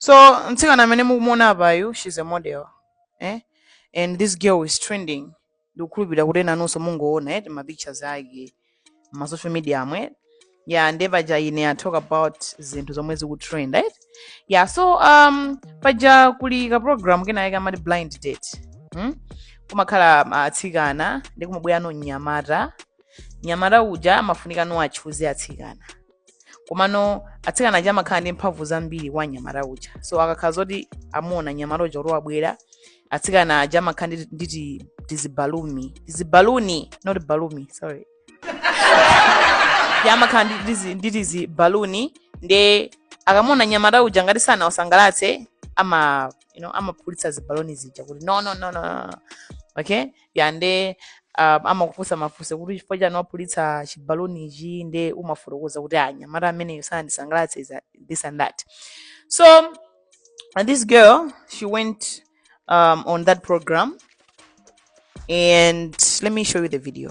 so mtsikana amene mukumuona apayu she's a model eh? and this girl is trending ndikukhulupirira kuti enanunso mungoona eh, mapictures ake ma social media momwe ya nde paja ine I talk about zinthu zomwe zikutrend right ya so um, paja kuli ka program kena yake amati blind date hmm? kumakhala ah, atsikana ndi kumabweranso mnyamata mnyamata uja amafunika kuti achuze atsikana komano atsikana aja amakhala ndi mphamvu zambiri kwa mnyamata uja so akakhala zoti amuona mnyamata uja kuti wabwera atsikana aja amakhala ndi- ndi ti- tizibalumi tizibaluni not balumi sorry ndi amakhala ndi tizi- ndi tizibaluni nde akamuona mnyamata uja ngati sanawasangalatse ama you know, amaphulitsa zibaloni zija kuti no no no no no. okay ya nde ah, amakufunsa mafunso kuti chifukwa chani waphulitsa chibaluni ichi nde umafotokoza kuti anyamata ameneyo sanandisangalatse is a- this and that so and this girl she went um, on that program and let me show you the video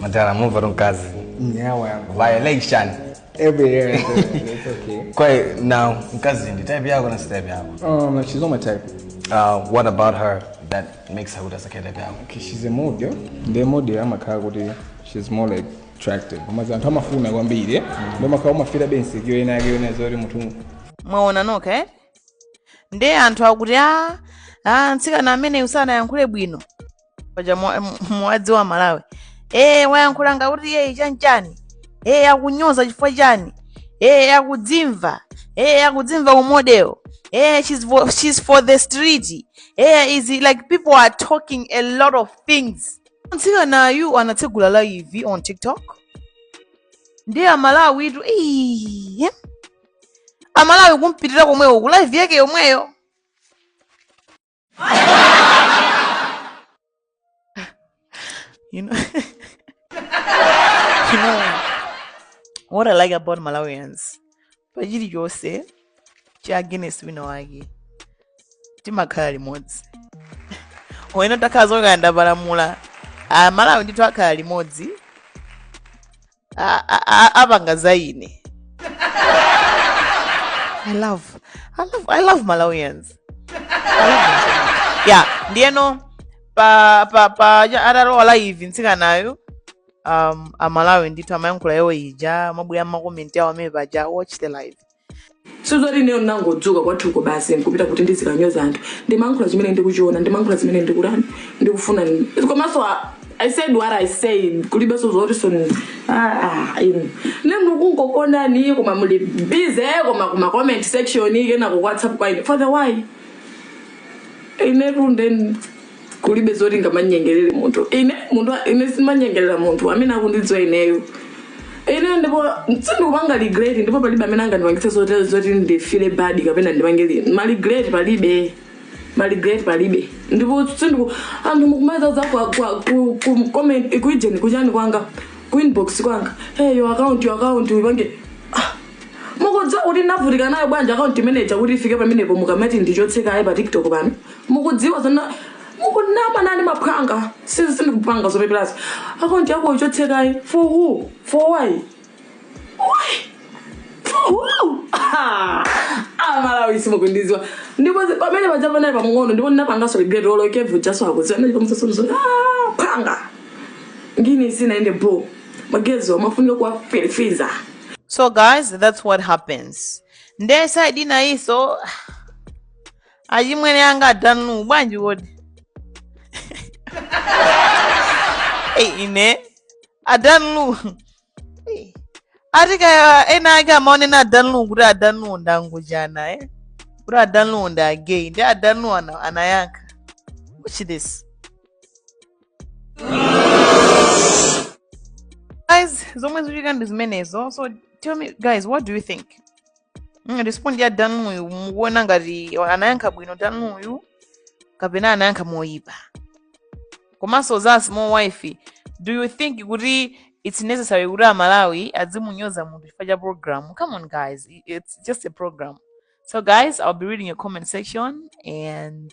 Model move on mkazi. Nyawa yangu. Violation. Every year. It's okay. Kodi now mkazi ndi type yako kapena si type yako. Um, she's not my type. Uh, what about her that makes her kusakhala type yako? Okay, she's a model. Nde model amakhala kuti she's more like attractive. Koma anthu amamufuna kwambiri. Ndio makhala umafira bensi kiyo ina kiyo ina zori mutu. mwaona nokha eh nde anthu akuti a a mtsikana ameneyu sanayankhule bwino paja mwa- m- mwadziwa amalawi e wayankhula ngakuti yeyi chanchani e akunyoza chifukwa chani e akudzimva e akudzimva umodewo e she's, vo- she's for the street e is like people are talking a lot of things mtsikanayu anatsegula live on tiktok ndiye amalawi tu "Ii, amalawi kumpitira komwewo ku live yake yomweyo you know, you know what I like about Malawians pachili chonse cha against wina wake timakhala limodzi oyena takhala zokayanda palamula amalawi ndithu akhala limodzi a- a- a- apanga za ine i love i love, I love malawians I love them. yeah ndiyeno pa pa pa ja- atalowa live mtsikanayo um, amalawi ndithu amayankhula yawo ija amabwera makomenti awo amene paja watch the live sizoti ineyo nangodzuka kwathuko basi nkupita kuti ndizikanyoza anthu ndimankhula chimene ndikuchiona ndimankhula zimene ndikutani ndikufuna komanso a- i said what i said kulibenso zotiso nemukungokondani koma muli busy koma kuma comment section kenako ku whatsapp kwa ine for the why inetu ndeni kulibe zoti ngamanyengerere munthu ine munthu ine simanyengerera munthu amene akundidziwa ineyo ine ndipo sindikupanga regret ndipo palibe amene angandipangitse zoti zoti ndifile bad kapena ndipangire ma regret palibe ma regret palibe ndipo sindiku anthu mukumazaza kwa kwa ku, ku comment kuijeni kuchani kwanga ku inbox kwanga hey your account your account upange ah, mukudziwa kuti ndinavutika nayo bwanji akaunti imeneja kuti ifike pamenepo mukamati ndichotse kaye pa tiktok pano mukudziwa zona mukunama nani maphwanga sisi sindikupanga zopeperazo akaunti yako ichotse kaye for who for why why for who Ah, amalawi simukundiziwa ndipo zi- pamene paja panali pamng'ono ndipo ndinapangaso regret olo kevu jaso akuziwa ndipamsasomso phwanga ngini sinaende bo magezo amafunika kuwaferefeza so guys that's what happens nde side inayinso achimwene anga a Dan Lu bwanji kodi Ei, ine a Dan Lu Ei, ati kaya ena ake amaonena a Dan Lu kuti a Dan Lu ndangujana eh? kuti a Dan Lu ndi a gay ndi a Dan Lu ana- anayankha watch this guys zomwe zikuchitika ndi zimenezo so tell me guys what do you think Mm, respondi ya Dan Luyu mukuona ngati anayankha bwino Dan Luyu kapena anayankha moyipa komanso za small wife do you think kuti it's necessary kuti amalawi adzimunyoza munthu chifukwa cha program come on guys i- it's just a program so guys i'll be reading your comment section and